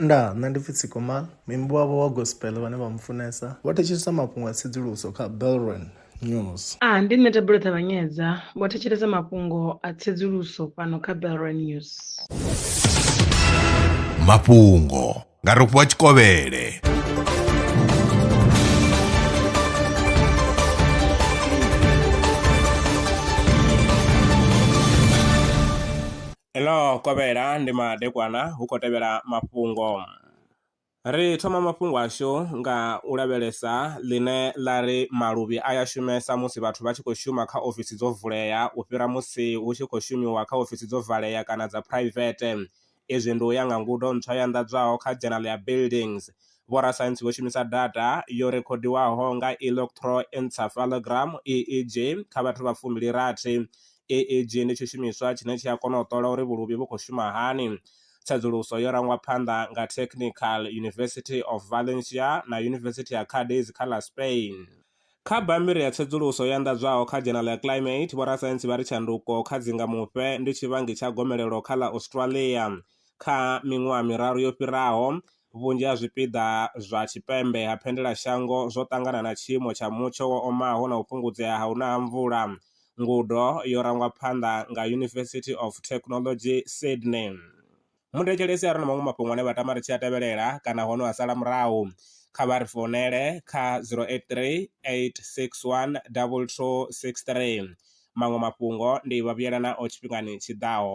Nda, nṋe ndi pfi Tsikoma, muimbi wavho wa gospel vhane vha mu funesa vho thetshelesa mafhungo a tsedzuluso kha Belron News. A, ndi nṋe Thabelo Ṱavhanyedza, vho thetshelesa mafhungo a tsedzuluso fhano kha Belron News. Mafhungo nga Rofhiwa Tshikovhele. Ḽo kovhela ndi madekwana hu khou tevhela mafhungo. Ri thoma mafhungo ashu nga u lavhelesa ḽine ḽa ri maluvhi a ya shumesa musi vhathu vha tshi khou shuma kha ofisi dzo vulea u fhira musi hu tshi khou shumiwa kha ofisi dzo valea kana dza phuraivethe. Izwi ndi u ya nga ngudo ntswa yo anḓadzwaho kha Journal ya Buildings. Vhorasaintsi vho shumisa data yo rekhodiwaho nga electroencephalogram, EEG, kha vhathu vha fumi-li-rathi EEG ndi tshishumiswa tshine tshi a kona u ṱola uri vhuluvhi vhu khou shuma hani. Tsedzuluso yo rangwa phanḓa nga Technical University of Valencia na Yunivesithi ya Cádiz kha ḽa Spain. Kha bammbiri ya tsedzuluso yo anḓadzwaho kha dzhenala ya Climate, vhorasaintsi vha ri tshanduko kha dzingamufhe ndi tshivhangi tsha gomelelo kha ḽa Australia. Kha miṅwaha miraru yo fhiraho, Vhunzhi ha zwipiḓa zwa tshipembe ha phendelashango zwo ṱangana na tshiimo tsha mutsho wo omaho na u fhungudzea ha u na ha mvula. Ngudo yo rangwa phanḓa nga University of Technology, Sydney. Muthetshelesi a re na maṅwe mafhungo ane vha tama ri tshi a tevhelela kana ho no a sala murahu, kha vha ri founele kha 0838612263. Maṅwe mafhungo ndi vha vhuyela nao tshifhingani tshi ḓaho.